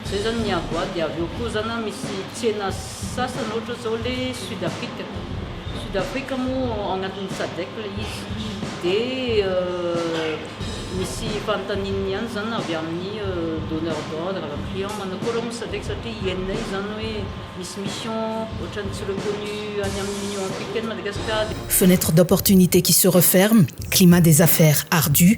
Zay zany ny avo aty, avy eo koa zany misy tsena sasany ohatra zao le sud afrique, sud afrique moa ao anatin'ny sadec le izy de misy fanontaniany ihany zany avy amin'ny donneur d'ordre, avy amin'ny client manakory moa sadec satria hienina io zany hoe misy mission ohatrany tsy reconnu any amin'ny union africaine Madagascar. Fenêtre d'opportunité qui se referme, climat des affaires ardu,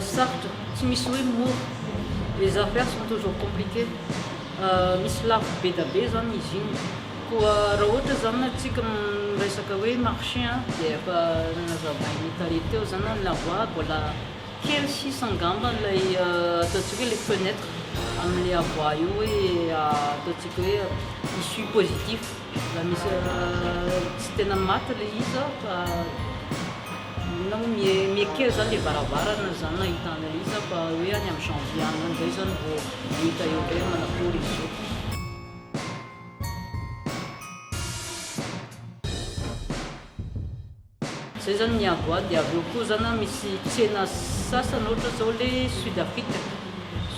Sarotra, tsy misy hoe mora, les affaires sont toujours compliquées, misy lafo be da be zany izy iny, koa raha ohatra zany ny antsika miresaka hoe marché an, dia efa nazavain'i Tale teo zany an, la voie mbola kely sisa angamba ilay ataontsika hoe le fenêtre amin'ilay avoir io hoe ataontsika hoe issue positif, mbola misy tsy tena maty ilay izy fa. Inona moa mi mi kely zany le varavarana zany nahita an'i Lisa fa hoe any amin'ny janvier any amin'izay zany vao hita eo indray hoe manakory izy io. Zay zany ny avo ato dia avy eo koa zany an misy tsena sasany ohatra zao le sud afrique.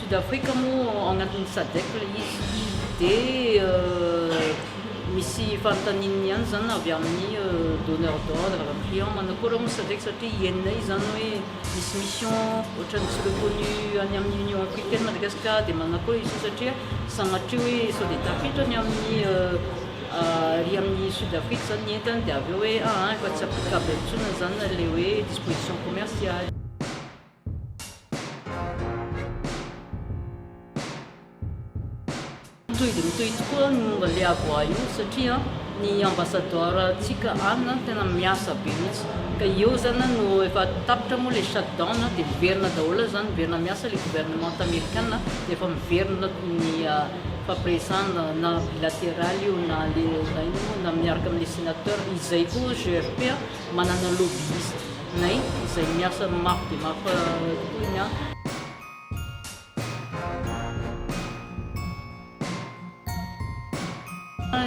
Sud Africa moa agnatin'ny Sadec ilay izy dia misy fanontaniany ihany izany avy amin'ny donneur d'ordre, client manakôry moa Sadec satria hienina izy izany hoe misy mission ohatran'ny tsy reconnu any amin'ny Union Africaine Madagasikara dia manakôry izy io satria sanatria hoe sao dia tafiditra ny amin'ny ary amin'ny Sud Afrique izany ny entany dia avy eo hoe aa efa tsy applicable intsony izany ilay hoe disposition commerciale. Mitohy dia mitohy tokoa ny momba ilay avoir io satria ny ambassadeur tsika any tena miasa be mihitsy ka eo zany no efa tapitra moa ilay shutdown dia miverina daholo zany miverina miasa ilay gouvernement amerikana efa miverina ny ah, fampiresana na bilateral io na le na miaraka amin'ny senateur izay koa GRP manana lobbyiste Nay izay miasa mafy dia mafy tokoa ny ahy.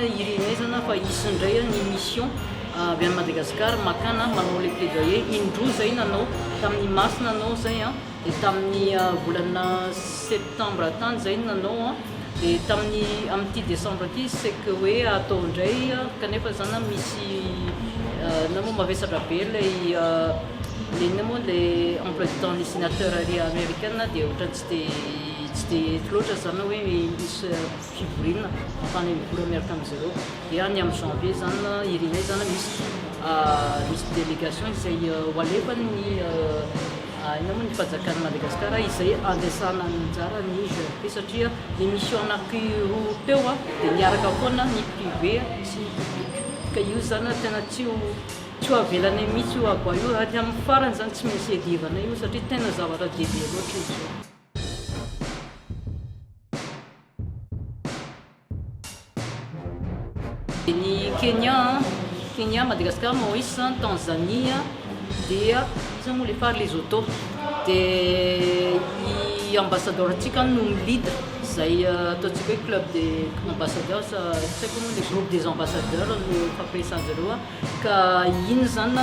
Ireny aizana fa hisy indray ny mission avy any Madagascar makana manao ilay plaidoyer indroa izay nanao tamin'ny Masina anao izay an. Dia tamin'ny volana septembre tany izay no nanao an, dia tamin'ny amin'ity décembre ity izy c'est que hoe atao indray kanefa zany an misy na moa mavesatra be ilay le inona moa ilay emploi du temps ny sénateur ary américaine dia ohatran'ny tsy dia tsy dia eto loatra zany hoe misy fivoriana afahana mivory miaraka amin'izy ireo dia ny amin'ny janvier zany an irinay zany an misy misy délégation izay ho alefany ny Inona moa ny fanjakan'i Madagasikara izay andresana anjara ny GRP satria ny mission anankiroa teo dia miaraka foana ny privé sy ny public ka io izany tena tsy ho tsy ho avelanay mihitsy io abo io ary amin'ny farany izany tsy maintsy iadivanay io satria tena zavatra dehibe loatra izy io. Ny Kenya, Kenya, Madagascar, Maurice, Tanzania, dia iza moa le fary Lesotho, dia i ambassadeur tsika no mi lead zay ataontsika hoe club des ambassadeurs, tsy haiko moa le groupe des ambassadeurs no fampiresahanjareo. Ka iny izany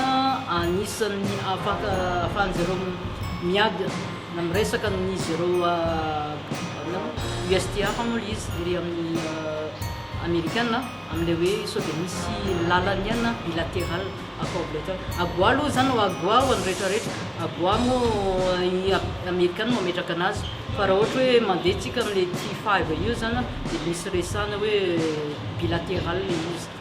anisan'ny afaka afahan'izy ireo miady na miresaka amin'izy ireo USTR hono ilay izy ery amin'ny Amerikana amin'ilay hoe sao dia misy lalany an bilateral accord bilateral. AGOA aloha izany ho AGOA ho an'ny rehetrarehetra. AGOA moa i Amerikana no mametraka anazy fa raha ohatra hoe mandeha tsika amin'ilay T5 io izany dia misy resahana hoe bilateral ilay izy.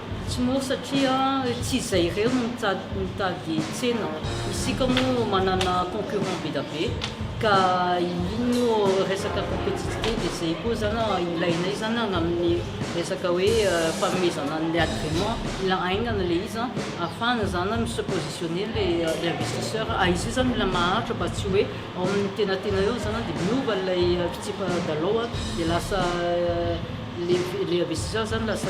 Tsy mora satria tsy izay irery no mitady tsena. Isika moa manana concurrent be da be ka iny moa resaka competitivité dia izay koa zany ilainay zany an amin'ny resaka hoe fanomezana an'ilay agrément. Mila haingana ilay izy an ahafahana zany an mi-se positionner ilay investisseur. Ary izy io zany mila maharitra mba tsy hoe ao amin'ny tenatena eo zany an dia miova ilay fitsipa-dalao an dia lasa le le investisseur zany lasa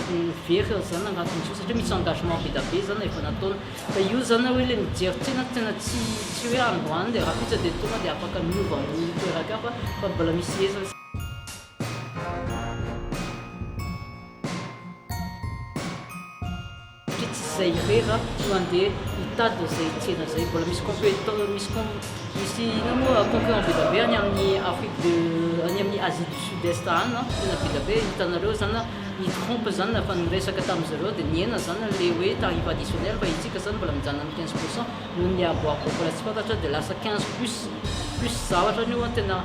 very zany agnatiny zao satria misy engagement be da be zany efa nataony fa io zany hoe le mijery tena tena tsy tsy hoe andro any de rahampitso de tonga de afaka miova amin'ny toeran-kafa fa mbola misy hezany Satria tsy izay irery aho no handeha hitady an'izay tsena izay. Mbola misy competiteur, misy com, misy inona moa concurrent be dia be any amin'ny Afrique de, any amin'ny Asie du Sud Est any an, tena be dia be. Hitanareo zany an, i Trump zany na efa niresaka tamin'ny zareo dia nihena zany an le hoe tarif additionnel fa isika zany mbola mijanona amin'ny quinze pour cent noho ny avoav mbola tsy fantatra dia lasa quinze plus plus zavatra any io an, tena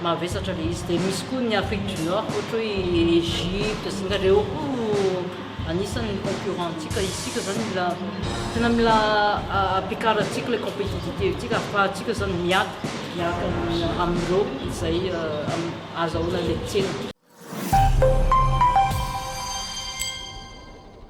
mavesatra le izy. Dia misy koa ny Afrique du Nord ohatra hoe i Egypte sy ny reo koa. Anisany ny concurrent ntsika isika zany mila tena mila ampiakarantsika ilay competitivité ntsika afahantsika zany miady miaraka amin'ireo izay azahoana any an-tsena.